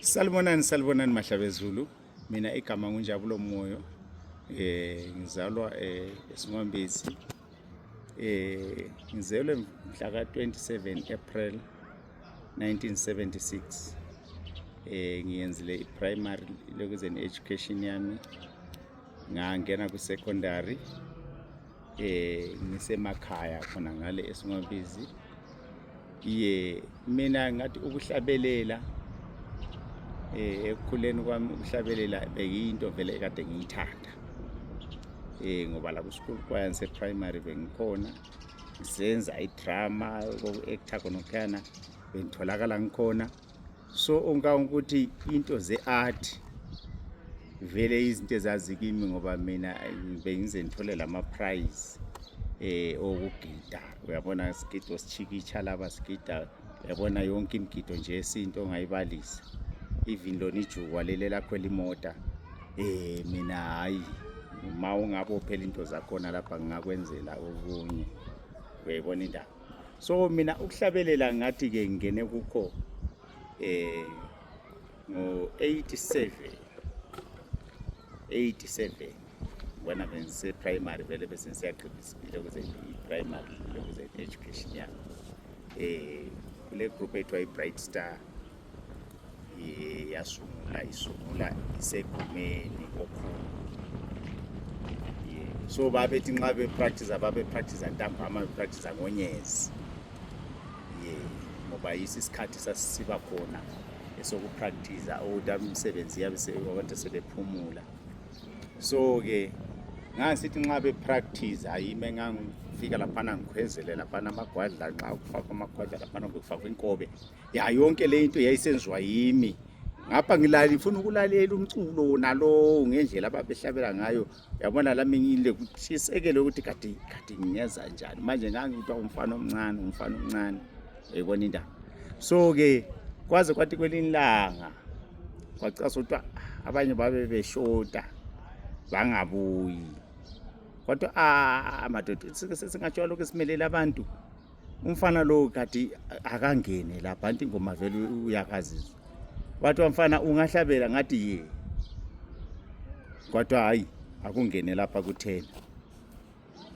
Salibonani salibonani mahlabezulu mina igama ngunjabulo moyo eh ngizalwa eh esingombezi eh ngizelwe mhla ka 27 April 1976 eh ngiyenzile i-primary lokuzeni education yami ngangena ku-secondary eh ngisemakhaya khona ngale esingabizi ye mina ngathi ukuhlabelela eh ekukhuleni kwami ukuhlabelela bekuyinto vele kade ngiyithanda eh ngoba la ku school choir nse primary bengikhona senza idrama koku actor khona khona bengitholakala ngikhona so onka ukuthi into ze-art vele izinto ezazikimi ngoba mina bengize ngithole lama-prize eh okugida uyabona sigido sichikitsha laba sigida uyabona yonke imigido nje yesintu ongayibalisa even lona ijukwa leli lakho elimota eh mina hayi uma ungabophela into zakhona lapha ngingakwenzela okunye uyayibona indaba so mina ukuhlabelela ngathi ke ngene kukho eh ngo 87 87 wena bengise primary vele bese ngisiyaqeda isibili ukuze i primary ukuze education yami eh kule group ethiwa i bright star yasungula isungula isegumeni okhulu so babethi nxa bepractice babepractice ntambama bepractice ngonyezi ye ngoba yiso isikhathi sasisiba khona esokupractice ukuthi umsebenzi yabe abantu sebephumula so-ke ngangisithi nxa bepractice ayime ngangifika laphana ngikhwezele laphana amagwadla nxa kufakwa amagwadla laphana bekufakwa inkobe ya yonke le into yayisenziwa yimi ngapha ngilali ngifuna ukulalela umculo wona lowo ngendlela ababehlabela ngayo yabona lami ngile kutshisekele ukuthi kade kade ngingenza njani manje ngangikuthiwa umfana omncane umfana omncane yayibona indaba so-ke kwaze kwathi kwelinye ilanga kwacasa kuthiwa ah, abanye babe beshota bangabuyi kodwa a ah, madoda singatshiwa lokhu esimelele abantu umfana lowo kati akangene lapha anti ingoma vele uyakazizwa bathi wamfana ungahlabela ngathi ye kodwa hhayi akungene lapha kuthena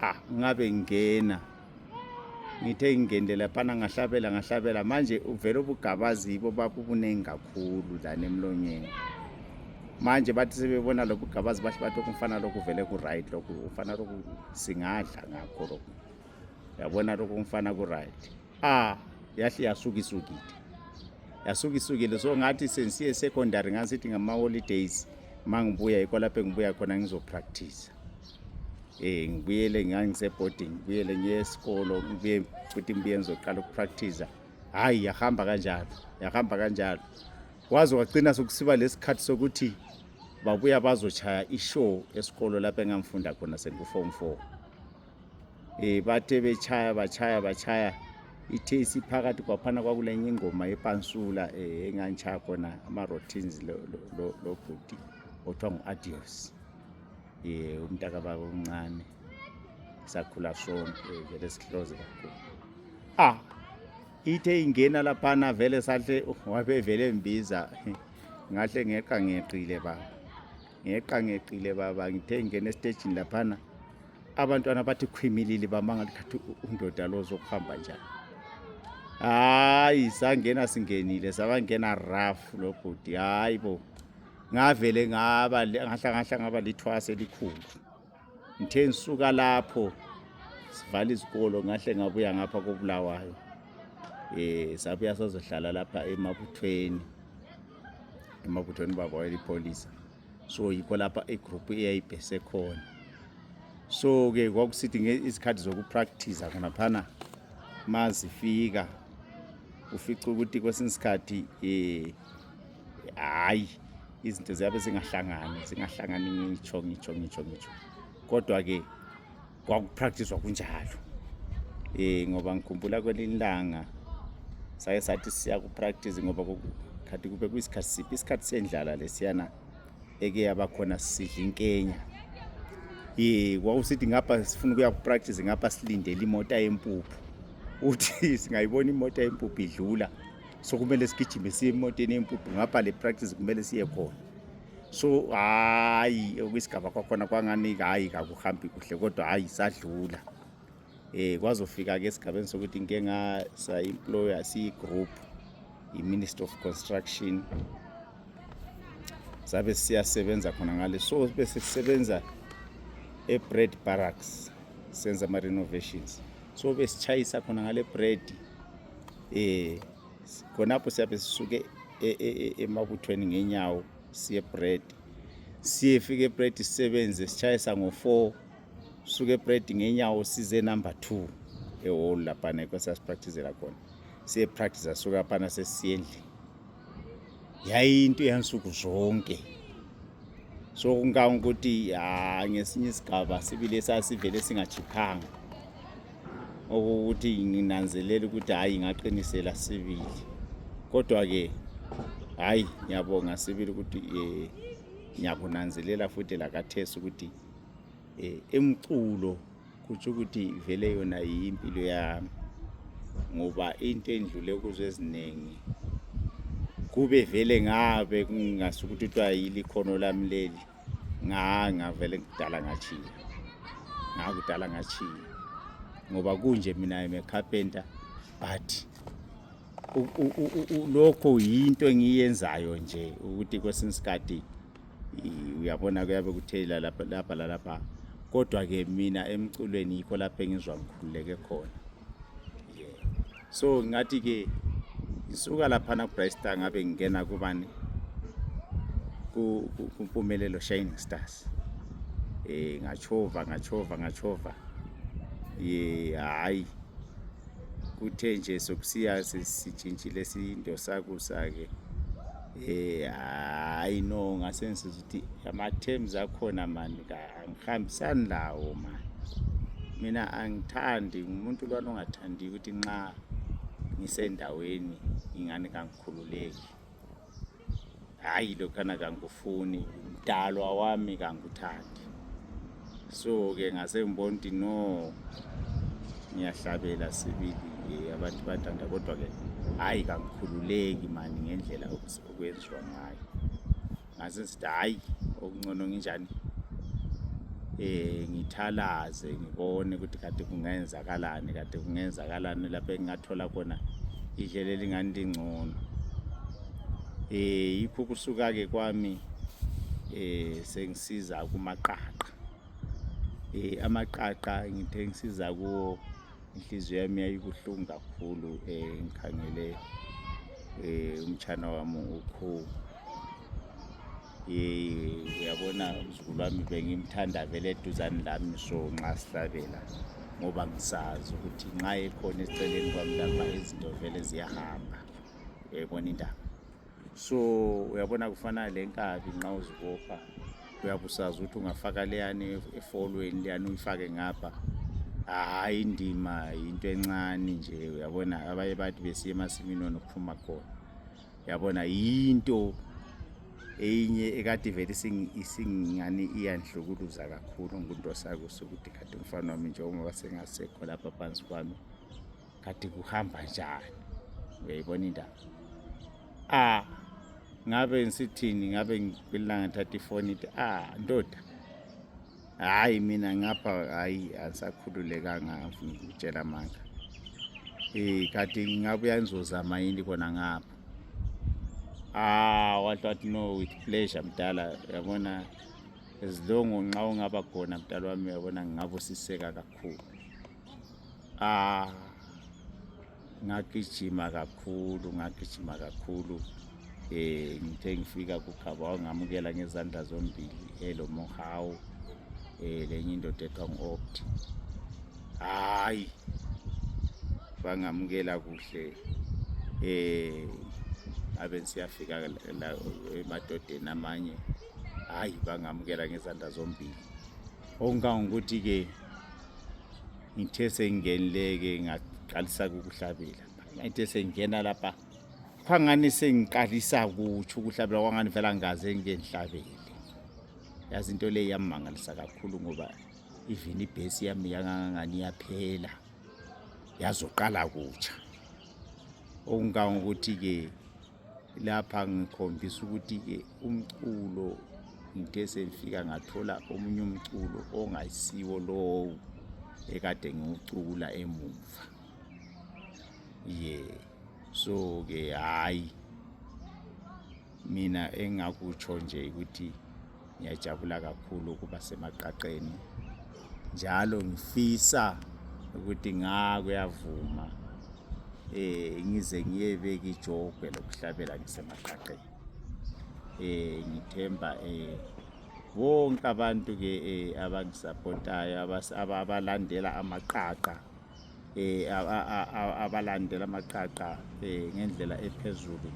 ah ngabe ngingena ngithe ngingenile laphana ngahlabela ngahlabela manje uvele ubugabazibo babubuningi kakhulu lana emlonyeni manje bathi sebebona lobu gabazi bahle bathi okumfana lokhu vele ku-right lokhu ufana lokhu singadla ngakho lokhu yabona lokho umfana kuright ah yahle yasukisukile yasukisukile so ngathi sensiye secondary ngasithi ngama-holidays ma ngibuya yikho lapho engibuya khona ngizopractice um eh, ngibuyele ngangiseboarding ngibuyele ngiye esikolo ngibuye futhi ngibuye ngizoqala ukupractiza hhayi yahamba kanjalo yahamba kanjalo waze wagcina sokusiba lesikhathi sokuthi babuya bazochaya ishow esikolo lapho engangifunda khona sengu-form four um bathe betshaya batshaya batshaya ithe isiphakathi kwaphana kwakulenye ingoma yepansula um eh, engangitshaya khona ama-rotins lobhuti othiwa ngu-adios um eh, umntakababa omncane sakhula sonke eh, vele sihloze kakhulu ah ithe ingena laphana vele sahle wabevele mbiza ngahle ngeqa ngeqile baba ngeqangeqile baba ngithe ngingena esitejini laphana abantwana bathi khwimilili bamangala khathi undoda lo zokuhamba njani hayi sangena singenile sabangena raf lo bhuti hayi bo ngavele ngaba ngahlangahla ngaba lithwase elikhulu Ngithe ngisuka lapho sivala izikolo ngahle ngabuya ngapha kobulawayo eh sabuya sazohlala lapha emabuthweni emabuthweni baba wayelipholisa so yikho lapha igroup eyayibhese khona so ke kwakusithi izikhathi zokupractice khonaphana mazifika ufica ukuthi kwesinye isikhathi um hayi izinto ziyabe zingahlangani zingahlangani ngitsho ngitsho ngitsho ngitsho kodwa-ke kwakupractiswa kunjalo um ngoba ngikhumbula kwelinye ilanga saye sathi siya kupractice ngoba khathi kube kuyisikhathi siphi isikhathi sendlala lesiyana eke yabakhona sidla inkenya ye wawusithi ngapha sifuna ukuya kupractice ngapha silindele imota yempuphu uthi singayibona imota yempuphu idlula so kumele sigijime siye emotweni yempuphu ngapha le practice kumele siye khona so hayi okwisigaba kwakhona kwangani hayi kakuhambi kuhle kodwa hayi sadlula eh kwazofika ke esigabeni sokuthi ngike ngasa employer siyi group i minister of construction sabe siyasebenza khona ngale so bese sisebenza e bread barracks senza ama renovations so besichayisa khona ngale bread eh khonapho siyabe sisuke e- e- e- emabuthweni ngenyawo siye bread siyefika ebread sisebenze sitshayisa ngo-four suke ebread ngenyawo size number two eholu laphana yikho sasipractizela khona siyepractiza suka phana sesiyendlini yayinto yansuku zonke so kunganga ukuthi ya ngesinye isigaba sibile sasivele singachiphanga okokuthi nginanzelela ukuthi hhayi ngaqinisela sibili kodwa-ke hhayi ngiyabonga sibili ukuthi um ngiyakunanzelela futhi lakathesi ukuthi um eh, emculo kutsho ukuthi vele yona yimpilo yami ngoba into endlule kuzo eziningi kube vele ngabe kungasukuthi kuthiwa yili khono lami leli nganga vele ngidala ngachiya ngakudala ngachiya ngoba kunje mina I'm a carpenter but lokho yinto engiyenzayo nje ukuthi kwesinye isikhathi uyabona kuyabe kuthelela lapha lapha lalapha kodwa ke mina emculweni yikho lapho engizwa ngikhululeke khona yeah. so ngathi ke ngisuka laphana kubrystar ngabe ngingena kubani kumpumelelo shining stars um ngachova ngachova ngachova ye hhayi kuthe nje sokusiya sitshintshile sindosakusa-ke Eh, hayi no ngasensiza ukuthi ama-terms akhona mani angihambisani lawo mani mina angithandi ngumuntu lwana ongathandi ukuthi nxa ngisendaweni ingane kangikhululeki hhayi lokhana kangikufuni mdalwa wami kangikuthandi so ke ngasengibona ukuthi no ngiyahlabela sibili abantu bathanda kodwa ke hhayi kangikhululeki mani ngendlela okwenziwa ngayo ngase sithi hhayi okuncono nginjani eh ngithalaze ngibone ukuthi kade kungenzakalani kade kungenzakalani lapho engingathola khona idlela elingani lingcono eh yikho kusuka ke kwami eh siza kumaqaqa eh amaqaqa ngithe ngisiza kuwo inhliziyo yami yayibuhlungu kakhulu eh ngikhangele eh umtshana wami ukho eh uyabona umzukulu wami bengimthanda vele eduzane lami so nxa sihlabela ngoba ngisazi ukuthi nxa ekhona esiceleni kwami lapha izinto vele ziyahamba uyayibona indaba so uyabona kufana le nkabi nxa uzibopha uyabusazi ukuthi ungafaka leyani efolweni leyani uyifake ngapha hhayi indima yinto encane nje uyabona abanye bathi besiye emasimini ona ukuphuma khona uyabona yinto eyinye ekade vele isingani iyanhlukuluza kakhulu ngunto sakuso ukuthi kade umfana wami njengoba sengasekho lapha phansi kwami kati kuhamba njani uyayibona indaba a ah, ngabe ngisithini ngabe ngilanga thatha ifoni ithi a ah, ndoda hayi mina ngapha hayi angisakhululekanga ngitshela manga um eh, kati ngabuya ngizozama yini khona ngapha ah wathi wathi no with pleasure mdala yabona ezilongo nxa ungaba khona mdala wami yabona ngingabusiseka kakhulu Ah, ngagijima kakhulu ngagijima kakhulu eh ngithe ngifika kukhaba wangamukela ngezandla zombili elo mohawu eh lenye indoda ethiwa ngu-opt hayi bangamukela kuhle eh abe siyafika emadodeni amanye hayi bangamukela ngezandla zombili okungangokuthi-ke ngithe sengingenileke ngaqalisa ukuhlabela ngithe sengingena lapha phangani sengiqalisa kutsho ukuhlabela kwangani vela ngaze ngengihlabele yazi into leyi yammangalisa kakhulu ngoba even ibhesi yami yangangangani yaphela yazoqala kutsha okungangokuthi-ke lapha ngikhombisa ukuthi ke umculo ngithe sengifika ngathola omunye umculo ongayisiwo lowo ekade ngiwucula emuva ye so ke hhayi mina engakutsho nje ukuthi Ngiyajabula kakhulu ukuba semaqaqeni njalo ngifisa ukuthi nga kuyavuma eh ngize ngiyebeka ijogwe lokuhlabela ngisemaqaqeni eh ngithemba eh bonke abantu ke eh abangisapotayo abalandela amaqaqa eh, abalandela amaqaqa eh, ngendlela ephezulu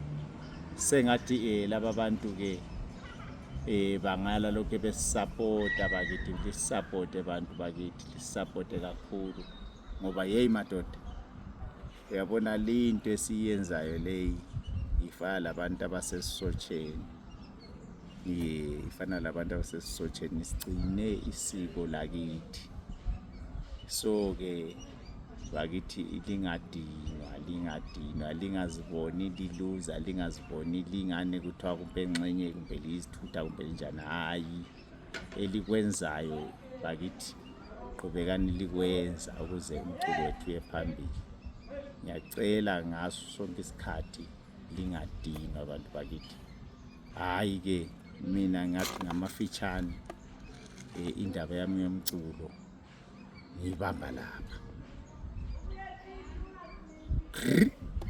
sengathi eh, laba bantu ke eh, bangala lokhu besisapota bakithi lisapote bantu bakithi lisapote kakhulu ngoba yeyi madoda uyabona leyinto esiyenzayo leyi ifana labantu abasesisotsheni ifana labantu abasesisotsheni sigcine isiko lakithi so-ke bakithi lingadinwa lingadinwa lingaziboni liluza lingaziboni lingane kuthiwa kumbe nxenye kumbe liyizithutha kumbe linjani hhayi elikwenzayo bakithi qhubekani likwenza ukuze umculo wethu uye phambili ngiyacela ngaso sonke isikhathi lingadinwa bantu bakithi hhayi ke mina ngathi ngamafitshane um indaba yami yomculo ngiyibamba lapha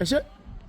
eshe